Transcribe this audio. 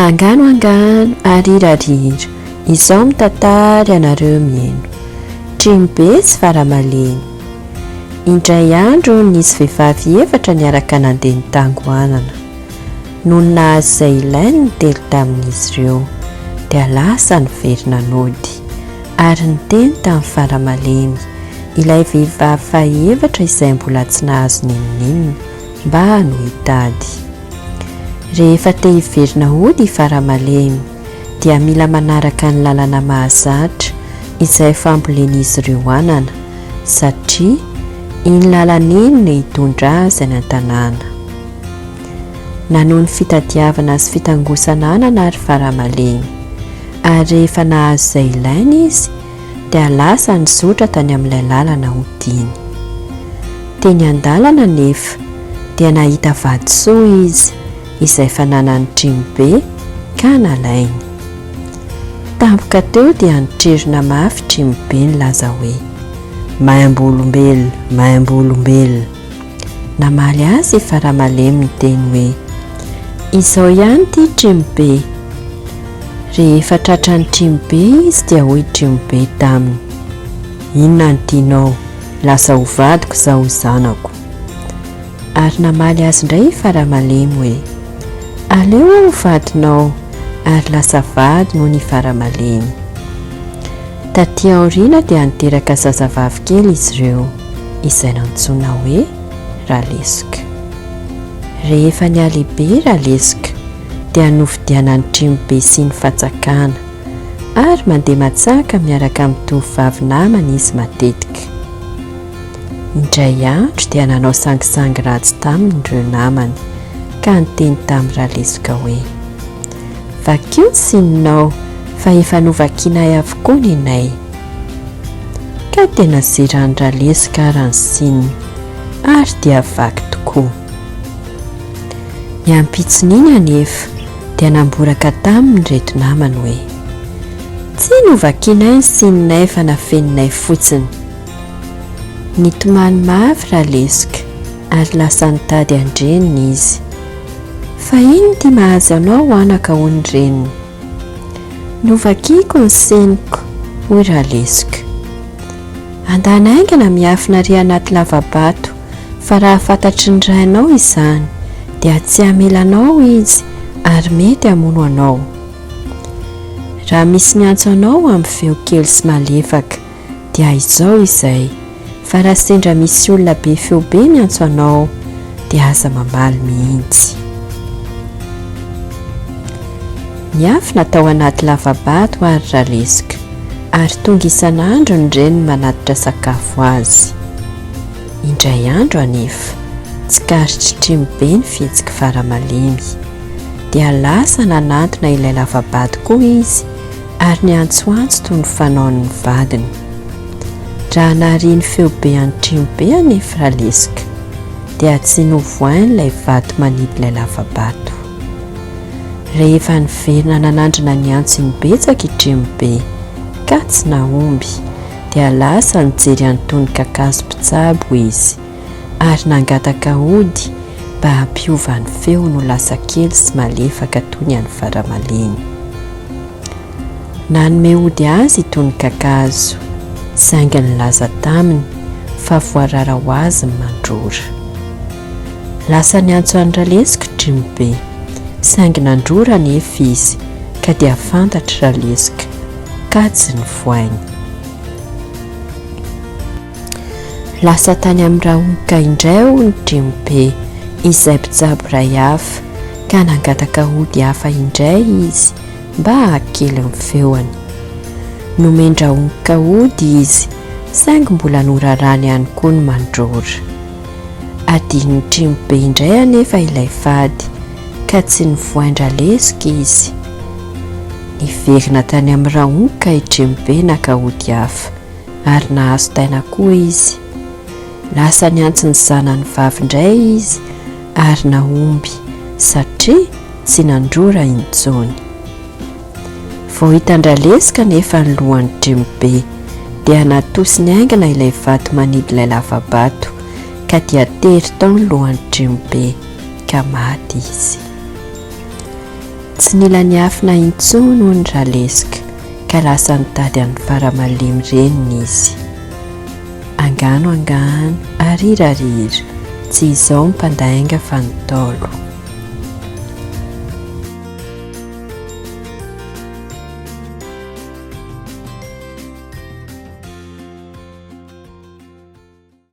Angano angano ary irariira Izao mitatary anareo mieno Trimobe sy faramalemy Indray andro nisy vehivavy efatra niaraka nandeha ny tangoanana Nony nahazo izay ilainy ny telo tamin'izy ireo Dia lasa niverina nody Ary niteny tamin'i Vala malemy, ilay vehivavy faha-efatra izay mbola tsy nahazo n'inon'inona, mba hanao hitady. Rehefa te hiverina hody i Vala malemy, dia mila manaraka ny lalana mahazatra izay fambolen'izy ireo anana, satria iny lalana iny no hitondra azy any an-tanàna. Nanohy ny fitadiavana sy fitangosananana ary faramalemy. Ary rehefa nahazo izay ilainy izy, dia lasa nizotra tany amin'ilay lalana hodiany. Teny an-dalana anefa, dia nahita vatosoa izy, izay fananany trimo be, ka nalainy. Tampoka teo dia nitrirona mafy trimo be nilaza hoe, Maimbo olombelona! Maimbo olombelona! Namaly azy i Faramalemy niteny hoe, Izao ihany ity Trimobe. Rehefa tratran'i Trimobe izy dia hoy Trimobe taminy, Inona no tianao, lasa ho vadiko izao ho zanako. Ary namaly azy indray i Faramalemy hoe, Aleo aho ho vadinao, ary lasa vadiny hono i Faramalemy. Tatỳ aoriana dia niteraka zazavavy kely izy ireo. izay nantsoina hoe Ralesoka. Rehefa nihalehibe i Ralesoka dia novidiana an'i Trimobe sy ny fanjakana ary mandeha matsaka miaraka amin'ny tovovavy namany izy matetika. Indray andro dia nanao sangisangy ratsy taminy ireo namany ka niteny tamin'i Ralesoka hoe, Vakio ny sininao fa efa novakianay avokoa nenay. Ka tena zeran dra leska ara ny signe ary dia vaky tokoa. Ny ampitson'iny anefa dia namboraka taminy reto namany hoe, tsy novakianay ny signe-nay fa nafeninay fotsiny. Nitomany mafy ra leska ary lasa nitady an-dreniny izy. Fa inona ity mahazo anao anaka hoy ny reniny. Novakiko ny seniko, hoy Ralesiko. Andany haingana miafina ary anaty lava-bato, fa raha fantatry ny rainao izany, dia tsy hamela anao izy ary mety hamono anao. Raha misy miantso anao amin'ny feo kely sy malefaka, dia haizao izay fa raha sendra misy olona be feo be miantso anao dia aza mamaly mihitsy. Niafina tao anaty lavabato ary Raleska ary tonga isan'andro ny reniny manatitra sakafo azy. Indray andro anefa, tsikaritry Trimo be ny fihetsiky fara malemy. Dia lasa nanantona ilay lavabato koa izy ary niantsoantso toy ny fanaon'ny vadiny. Raha nahare ny feo be antrimo be anefa Raleska, dia tsy novohain'ilay vato manidy ilay lava-bato. Rehefa niverina nanandrana ny antsony betsaka i Trimobe, ka tsy nahomby, dia lasa nijery an'itony kakazo mpitsabo izy. ary nangataka ody mba hampiova ny feony ho lasa kely sy malefaka toy ny an'ny faramalemy. Nanome ody azy i Tonon-kakazo, saingy nilaza taminy fa voarara ho azy ny mandrora. Lasa niantso an'i Ralesoko i Trimobe, saingy nandrora anefa izy ka dia fantatr'i Ralesoka kajy ny voainy. Lasa tany amin'ny Rahoka indray hono Dremobe izay mpitsabo iray hafa ka nangataka ody hafa indray izy mba hahakely ny feony. Nomen-dRahoka ody izy saingy mbola norarany ihany koa ny mandrora. Adinon'i Tremobe indray anefa ilay fady ka tsy nivoain-dra lesoka izy. Niverina tany amin'ny Rahoka i Tremobe naka ody hafa. ary nahazo taina koa izy. Lasa niantso ny zanany vavy indray izy ary nahomby satria tsy nandrora intsony. Vao hitan-dRaleska anefa ny lohan'i Dremobe dia natosiny haingana ilay vato manidy ilay lava-bato ka dia tery tao ny lohan'i Dremobe ka maty izy. Tsy nila niafina intsony hono Raleska ka lasa nitady an'i Faramalemy reniny izy. Angano angano, arira arira, tsy izao ny mpandainga fa ny Ntaolo.